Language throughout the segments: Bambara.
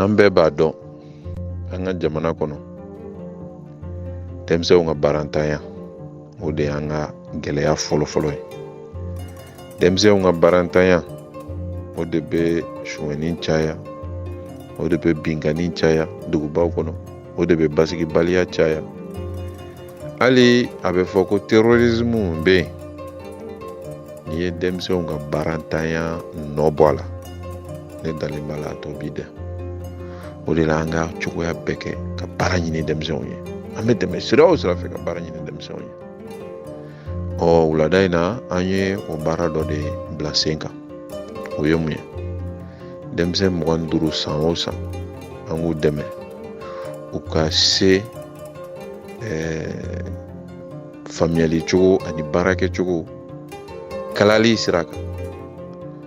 an bɛɛ b'a dɔn an ka jamana kɔnɔ denmisɛnw ka baarantanya o de y'an ka gɛlɛya fɔlɔfɔlɔ ye denmisɛnw ka baarantanya o de bɛ sunyɛni caya o de bɛ binkanni caya dugubaw kɔnɔ o de bɛ basigibaliya caya hali a bɛ fɔ ko terrorisme bɛ yen n'i ye denmisɛnw ka baarantanya nɔ bɔ a la ne dalen b'a la a tɔ b'i da o de la an ka cogoya bɛɛ kɛ ka baara ɲini denmisɛnw ye an bɛ tɛmɛ sira o sira fɛ ka baara ɲini denmisɛnw ye ɔ wulada in na an ye o baara dɔ de bila sen kan o ye mun ye denmisɛn mugan ni duuru san o san an k'u dɛmɛ u ka se eh, faamuyali cogo ani baara kɛcogo kalali sira kan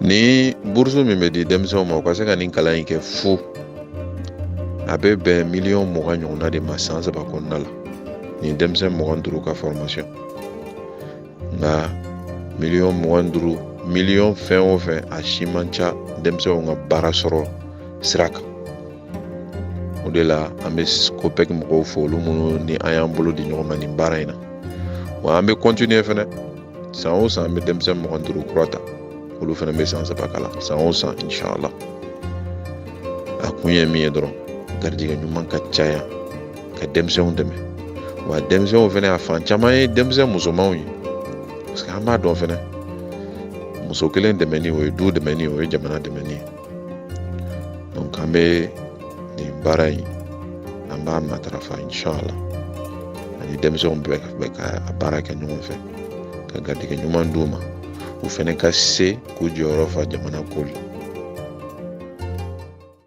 ni burusu min bɛ di denmisɛnw ma u ka se ka nin kalan in kɛ fu a bɛ bɛn miliyɔn mugan ɲɔgɔnna de ma san saba kɔnɔna la nin denmisɛn mugan duuru ka fɔrɔmasiyɔn nka miliyɔn mugan duuru miliyɔn fɛn o fɛn a si man ca denmisɛnw ka baara sɔrɔ sira kan o de la an bɛ kopɛki mɔgɔw fo olu minnu ni an y'an bolo di ɲɔgɔn ma nin baara in na wa an bɛ kɔntiniye fɛnɛ san o san an bɛ denmisɛn mugan duuru kura ta olu fɛnɛ bɛ san saba kalan san o san inshala a kun ye min ye dɔrɔn garijɛgɛ ɲuman ka caya ka denmisɛnw dɛmɛ wa denmisɛnw fɛnɛ a fan caman ye denmisɛn musomanw ye parce que an b'a dɔn fɛnɛ muso kelen dɛmɛni o ye du dɛmɛni o ye jamana dɛmɛni ye an bɛ nin baara in an b'a matarafa inshala ani denmisɛnw bɛɛ ka a baara kɛ ɲɔgɔn fɛ ka garijɛgɛ ɲuman d'u ma u fɛnɛ ka se k'u jɔyɔrɔ fa jamana ko la